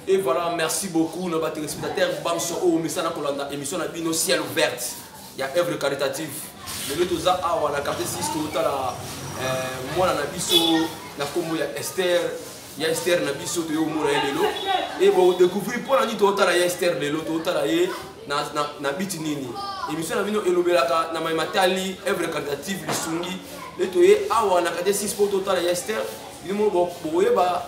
Et voilà, merci beaucoup nos téléspectateurs banso oyo mesana kolanda émission na bino ciel ouverte ya œuvre caritative. Lelo toza awa na quartier 6 totala euh, mwana na biso na kombo ya Esther ya Esther na biso toyo mona ye lelo et bo découvrir pona nini totala ya Esther lelo totala ye na na, na biti nini. Émission na bino elobelaka na mai matali œuvre caritative lisungi. Lelo toye awa na quartier 6 po totala ya Esther. Bino boyeba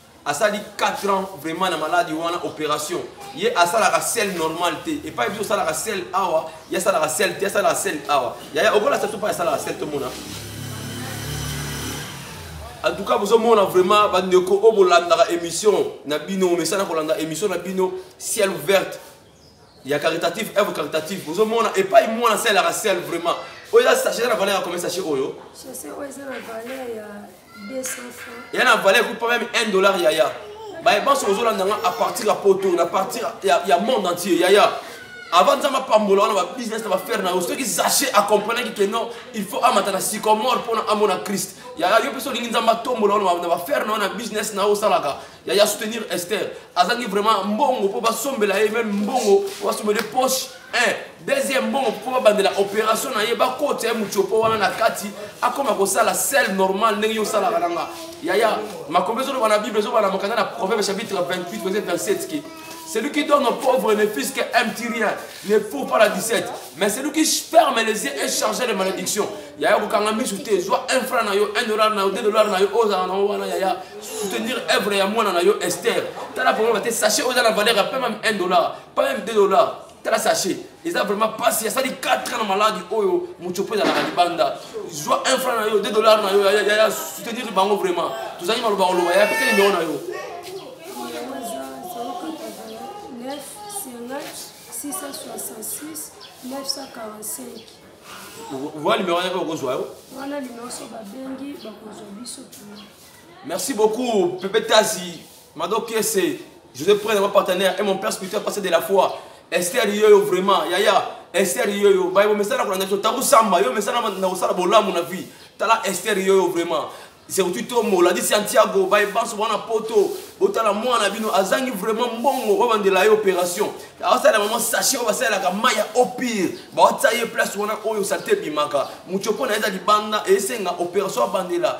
asali 4 ans vraiment na maladi wana opération ye asalaka sel normal te epai biso osalaka sel awa ye asalaka sel te asalaka sel awa yaya okolasa biso mpo asalaka sel tomona en tout cas bozomona vraiment bandeko oyo bolandaka émission na bino omesana kolanda émission na bino ciel ouverte ya caritative œuvre caritative ozomona epai mwana sel yaka sel vraiment oyo eza sachet eza na valeur ya combien sachet oyo eza na valeur ekupa meme 1 dollar yaya baye banso ozolanda nga à partir ya poto na partir ya monde entier yaya avant nzambe apambola wana babusiness na bafere na yo soki sachet acomprenaki ke non il faut amata na sycomore mpona amona christ yaya yo mpe solingi nzambe atombola wana na bafere na yo na business na yo osalaka ya ya soutenir Esther azangi vraiment mbongo po basombela ye même mbongo po basombela poche un deuxième mbongo po babandela opération na ye bakota ye mutiopo wana na kati akoma kosala sel normal ndenge yo osalaka nanga yaya makombe ezoloba na bible ezobana mokanda na proverbe chapitre 28 verset 27 ke Celui qui donne aux pauvres ne fils qu'un petit rien, ne faut pas la 17. Mais celui qui ferme les yeux est chargé de malédiction. Yaya kokanga misu te, zwa 1 franc na yo, 1 dollar na yo, 2 dollars na yo, ozala na wana yaya, soutenir œuvre ya mwana na yo Esther. Tala problème te, sachez oza na valeur ya pas même 1 dollar, pas même 2 dollars. tala sachet eza vraiment mpasi asali 4 ans na maladi oyo mocopo ezalaka libanda zwa 1 franc na yo 2 dollar na yo ya soutenir bango vraiment tozali maloba koloba ya peke nimero na yo owa nimero yaka okozwa yo wana nimero so babengi bakozwa biso merci beaucoup pepe tasi Mado Kiese, je vais prendre ma partenaire et mon père spirituel passer de la foi. Esther Yoyo vraiment, Yaya, Esther Yoyo, baye bomesana kolanda biso tango samba, yo mesana na kosala bolamu na vie. Tala Esther Yoyo vraiment. Surtout Tomo, la dit Santiago, baye banso wana poto, botala mwana bino azangi vraiment mbongo oyo bandela ye opération. Asala maman sachet oyo basalelaka mai ya au pire, baotya ye place wana oyo salite ebimaka. Muchoko na ye eza libanda esenga opération abandela.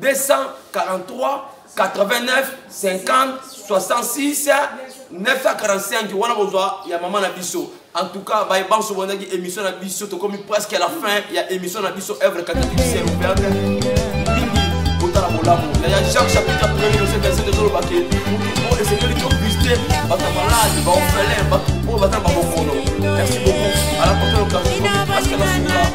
243 89 50 66 945 wana bozwa ya mama na biso en tout cas baye banso bondaki émission na biso tokomi presque à la fin ya émission na biso œuvre catéchiciel ouverte mingi botala bolamu na ya jacques chapitre premier verset verset ezoloba ke motu oyo esengeli tovisite bato ya malade baofelin bato oyo baza na babokono merci beaucoup à la prochaine occasion tokomi presque na suka